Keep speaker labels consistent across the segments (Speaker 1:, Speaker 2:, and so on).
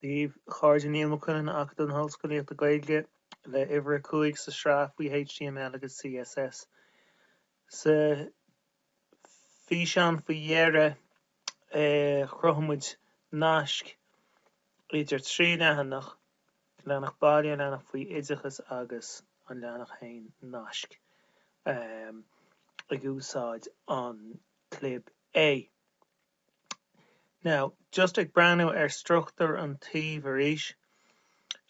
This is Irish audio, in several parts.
Speaker 1: Dia dhaoibh a chairde, Niall Mac Uidhilin, Acadamh na hOllscolaíochta Gaeilge le huimhir a cúig sa tsraith faoi html agus css. Sa físeán faoi dheireadh chruthaigh muid naisc idir trí leathanach, leathanach baile, leathanach faoi oideachas agus an leathanach féin, naisc ag úsáid an clib A. Now, just ag breathnú ar struchtúr an tsuímh arís,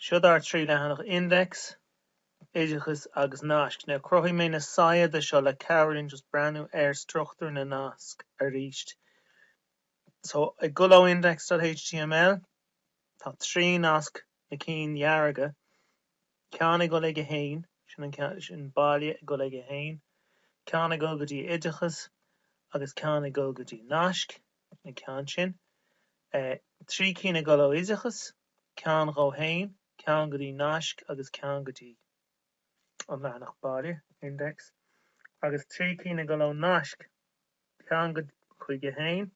Speaker 1: seod ár trí leathanach index, oideachas agus naisc. Now, chruthaigh mé na saigheada seo le cabhrú linn just breathnú ar struchtúr na nasc arís. So, ag dul ó index.html, tá trí nasc na cinn dhearga, ceann ag dul aige féin, sin baile ag dul aige féin, ceann ag dul go dtí oideachas agus ceann ag dul go dtí naisc, an ceann sin, trí cinn ag dul ó oideachas, ceann dhó féin, ceann go dtí naisc agus ceann go dtí an leathanach baile, index, agus trí cinn ag dul ó naisc, ceann go, chuige féin,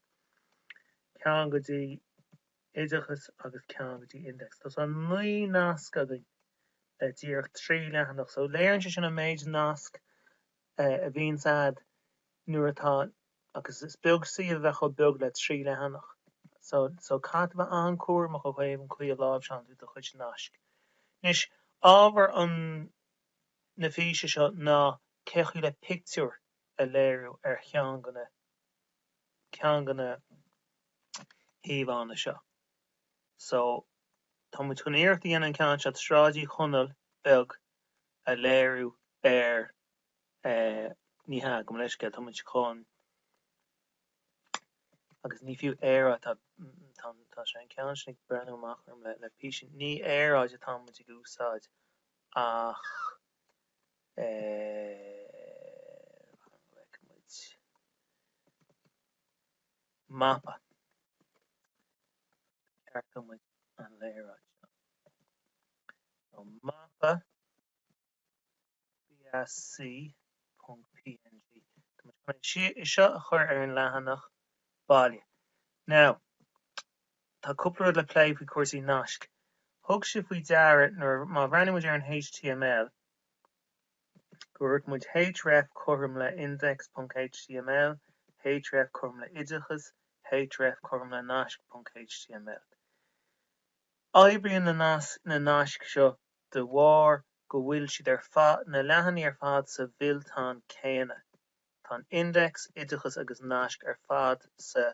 Speaker 1: ceann go dtí. oideachas agus ceann go dtí index. Tá tá naoi nasc againn le díreach trí leathanach so léiríonn sé sin an méid nasc a bhíonns agat nuair atá agus is beag suíomh a bheadh chomh beag le trí leathanach so caithfidh tú bheith an-chúramach ó thaobh an chaoi a láimhseálann tú do chuid naisc. Anois, ábhar an na físe seo ná cé chaoi le pictiúr a léiriú ar cheann de na. ceann de na híomhánna seo. So, tá muid chun iarracht a dhéanamh an ceann seo, Sráid Uí Chonaill Bheag, a léiriú ar eh, ní hea, gabh mo leithscéal, tá muid chun, agus ní fiú aeráid, tá, tá, tá sé, an ceann sin ag breathnú amach orm le, le písín, ní aeráid atá muid ag úsáid ach. Glaofaidh muid mapa. Ceartóidh muid an léaráid seo. So mapa bsc.png. Tá muid chun ansin é seo a chur ar an leathanach baile. Now, tá cúpla rud le plé faoi chúrsaí naisc. Thug sibh faoi deara nuair a, má bhreathnaíonn muid ar an html, Cuirfidh muid href cothrom le index.html, href cothrom le oideachas, href cothrom le naisc.html. Oibríonn na naisc seo de bharr go bhfuil siad ar fad, na leathanaigh ar fad sa bhfillteán céanna. Tá an index, oideachas agus naisc ar fad sa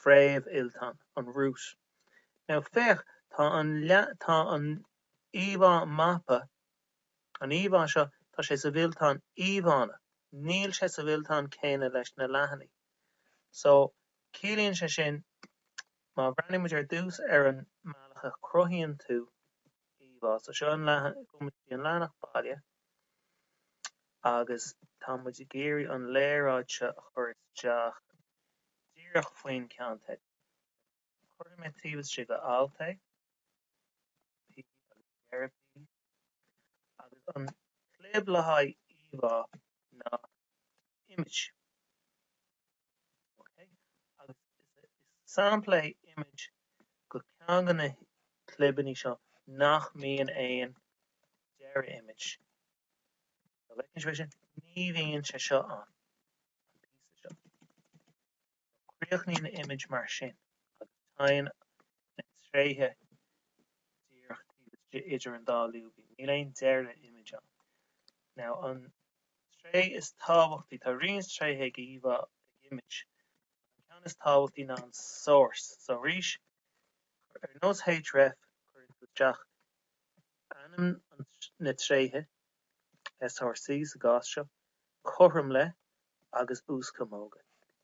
Speaker 1: phréamhfhillteán, an root. Now féach, tá an, tá an. Íomhá Mapa An íomhá seo, tá sé sa bhfillteán Íomhánna. Níl sé sa bhfillteán céanna leis na leathanaigh. So, ciallaíonn sé sin, má bhreathnaíonn muid ar dtús ar an mbealach a chruthaíonn tú íomhá, so seo an leathanach, gabhann muid go dtí an leathanach Baile agus tá muid ag iarraidh an léaráid seo a chur isteach díreach faoin gceannteideal. Cuirfidh mé taobh istigh de alt é, P agus deireadh P, agus an chlib le haghaidh íomhá ná image. OK? Agus is sampla é image go ceann de na clibeannaí seo nach mbíonn aon deireadh image. An bhfeiceann sibh é sin? Ní bhíonn sé seo ann, an píosa seo. Críochnaíonn image mar sin agus téann na tréithe díreach taobh istigh idir an dá lúibín, níl aon deireadh image ann. Now an tréith is tábhachtaí, tá roinnt tréithe ag íomhá, ag image, an ceann is tábhachtaí ná an source. So arís, ar nós href, cuireann tú isteach ainm na tréithe SRC sa gcás seo, cothrom le agus uaschamóga.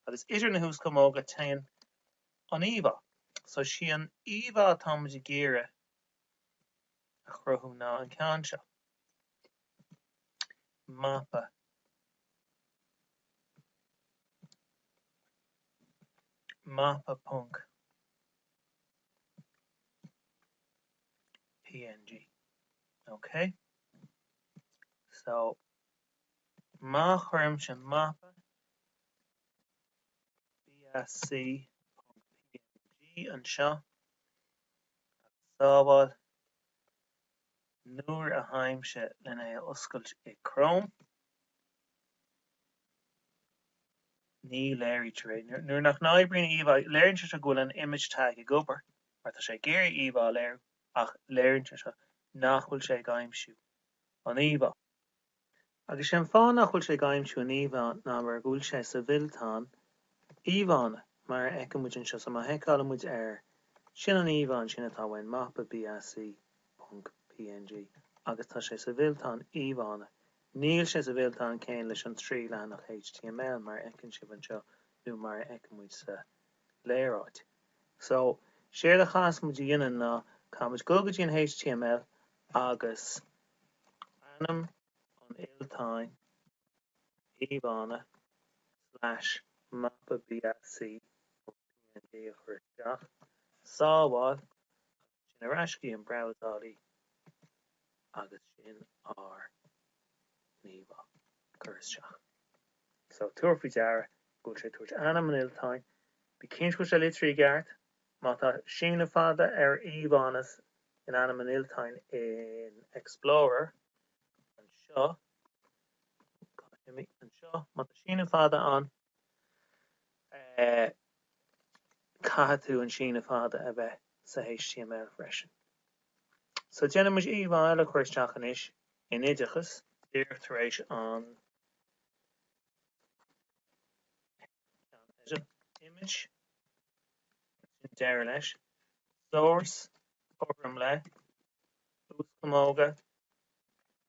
Speaker 1: Agus idir na huaschamóga téann an íomhá. So sí an íomhá atá muid ag iarraidh a chruthú ná an ceann seo. Mapa. Mapa ponc. PNG. OK. So, má chuirimse mapa BAC.png anseo, agus sábháil, nuair a thagaimse len é a oscailt i Chrome, ní léirítear é. Nuair nach n-oibríonn íomhá, léiríonn sé seo go bhfuil an image tag ag obair, mar tá sé ag iarraidh íomhá a léiriú. ach léiríonn sé seo nach bhfuil sé ag aimsiú an íomhá. Agus sé an fáth nach bhfuil sé ag aimsiú an íomhá ná mar go bhfuil sé sa bhfillteán íomhánna, mar a fheiceann muid anseo. So má sheiceálann muid air, sin an íomhá ansin atá uainn, mapa bsc ponc png. Agus tá sé sa bhfillteán íomhánna. Níl sé sa bhfillteán céanna leis an trí leathanach html, mar a fheiceann sibh anseo nó mar a fheiceann muid sa. léaráid. So, séard a chaithfeas muid a dhéanamh ná caithfimid dul go dtí an html agus ainm an fhillteáin, íomhánna slash mapa bsc. png a chur isteach, sábháil agus. Sin ar ais go dtí an brabhsálaí agus sin ár n-íomhá curtha isteach. So, tabhair faoi deara go bhfuil sé ag tabhairt ainm an fhillteáin. Bí cinnte go bhfuil sé litrithe i gceart. Má tá síneadh fada ar íomhánna in ainm an fhillteáin in Explorer, anseo, má tá síneadh fada ann, caithfidh tú an síneadh fada a bheith sa html freisin. So déanfaidh muid íomhá eile a chur isteach anois in oideachas, díreach tar éis an image, sin deireadh leis, source, cothrom le, uaschamóga,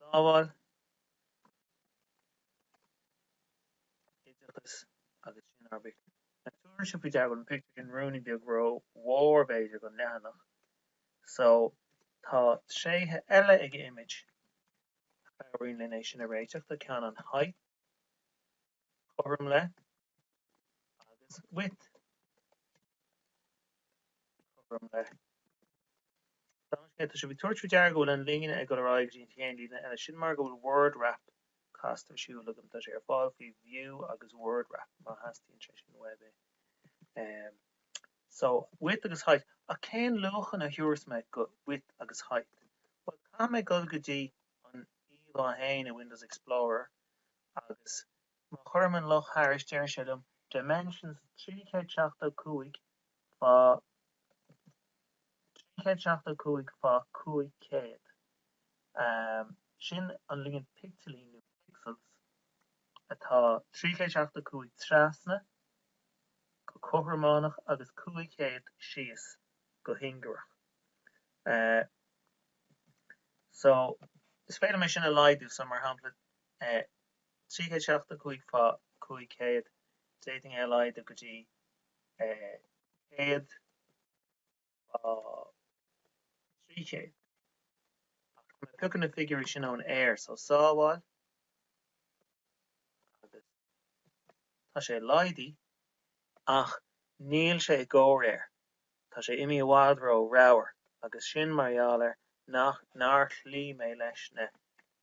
Speaker 1: Sábháil oideachas agus sin ár bpictiúr. Now, tabharfaidh sibh faoi deara go bhfuil an pictiúr sin ruainne beag ró mhór b'fhéidir don leathanach so tá tréithe eile ag image a chabhraíonn linn é sin a réiteach. Tá ceann an height, cothrom le agus width cothrom le. Tá sibh ag tabhairt faoi deara go bhfuil an líne ag dul ar aghaidh go dtí an chéad líne eile, sin mar go bhfuil Word Wrap casta ar siúl agam, tá sé ar fáil faoi View agus Word Wrap má theastaíonn sé sin uaibh. Um, so, width agus height, ach cén luachan a thabharfas mé do width agus height? Bhuel, caithfidh mé dul go dtí an íomhá féin i Windows Explorer agus má chuirim an luch thairis deir sé liom, Dimensions 375 fá 375 fá 500, sin an líon picteilín nó pixels atá 375 trasna go cothrománach agus 500 síos go hingearach. So is féidir liom é sin a laghdú, so mar shampla 375 fá 500, d'fhéadfainn é a laghdú go dtí 100 fá 300, ach má phiocaim na figiúirí sin ón aer, so sábháil agus tá sé laghdaithe ach níl sé i gcomhréir Tá sé imithe i bhfad róramhar agus sin mar gheall ar nach, nár chloígh mé leis na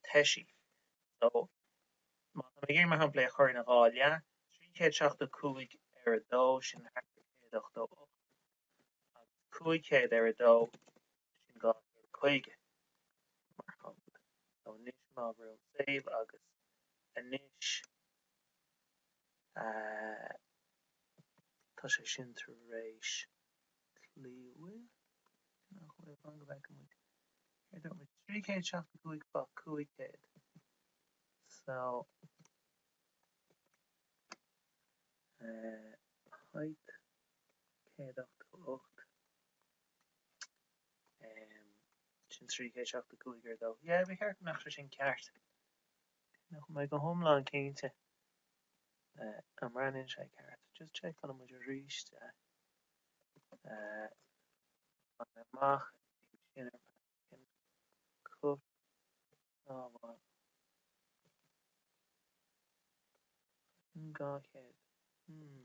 Speaker 1: toisí. So, má tá mé ag iarraidh mar shampla é a chur ina dhá leath, trí chéad seachtó cúig ar a dó, sin thart ar céad ochtó ocht, agus cúig chéad ar a dó, sin dhá chéad caoga, mar shampla. So, anois má bhrúim save agus anois. Tá sé sin tar éis cloí, an bhfuil, nach bhfuil? Fan go bhfeice muid. Céard a dúirt muid? Trí chéad seachtó cúig fá cúig chéad. So, eh, height céad ochtó ocht. Em, sin trí chéad seachtó cúig ar dó. Yeah, ba cheart go mbeadh sé sin ceart. Níl mé go hiomlán cinnte an mbreathnaíonn sé ceart. Just checkálfaidh muid aríst é. Tá mé imithe amach ansin ar Paddington Cut, sábháil. Paddington 200. Hmm.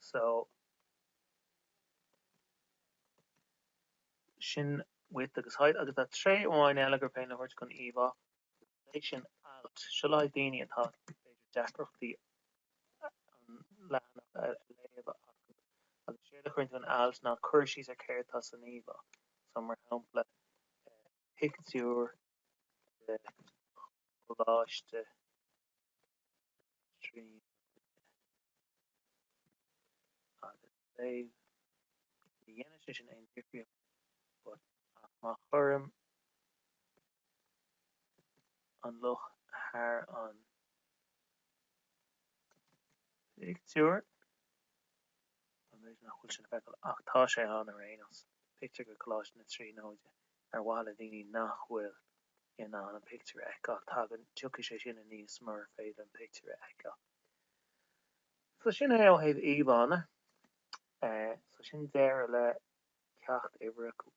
Speaker 1: so sin width agus height agus tá tréith amháin eile gur féidir a thabhairt don íomhá agus is é sin alt. Seo le haghaidh daoine atá b'fhéidir deacrachtaí an leathanach a léamh acu agus séard a chuireann tú in alt ná cur síos ar céard atá san íomhá so mar shampla pictiúr de Choláiste na Tríonóide agus save Ní dhéanann sé sin aon difríocht but ach má chuirim an luch thar an phictiúr, Sa mhéid nach bhfuil sin le feiceáil ach tá sé ann ar aon nós, pictiúr de Choláiste na Tríonóide. Ar mhaithe le daoine nach bhfuil in ann an pictiúr a fheiceáil, tagann, tiocfaidh sé sin aníos murar féidir an pictiúr a fheiceáil. So sin é ó thaobh íomhánna. So sin deireadh le ceacht uimhir a cúig.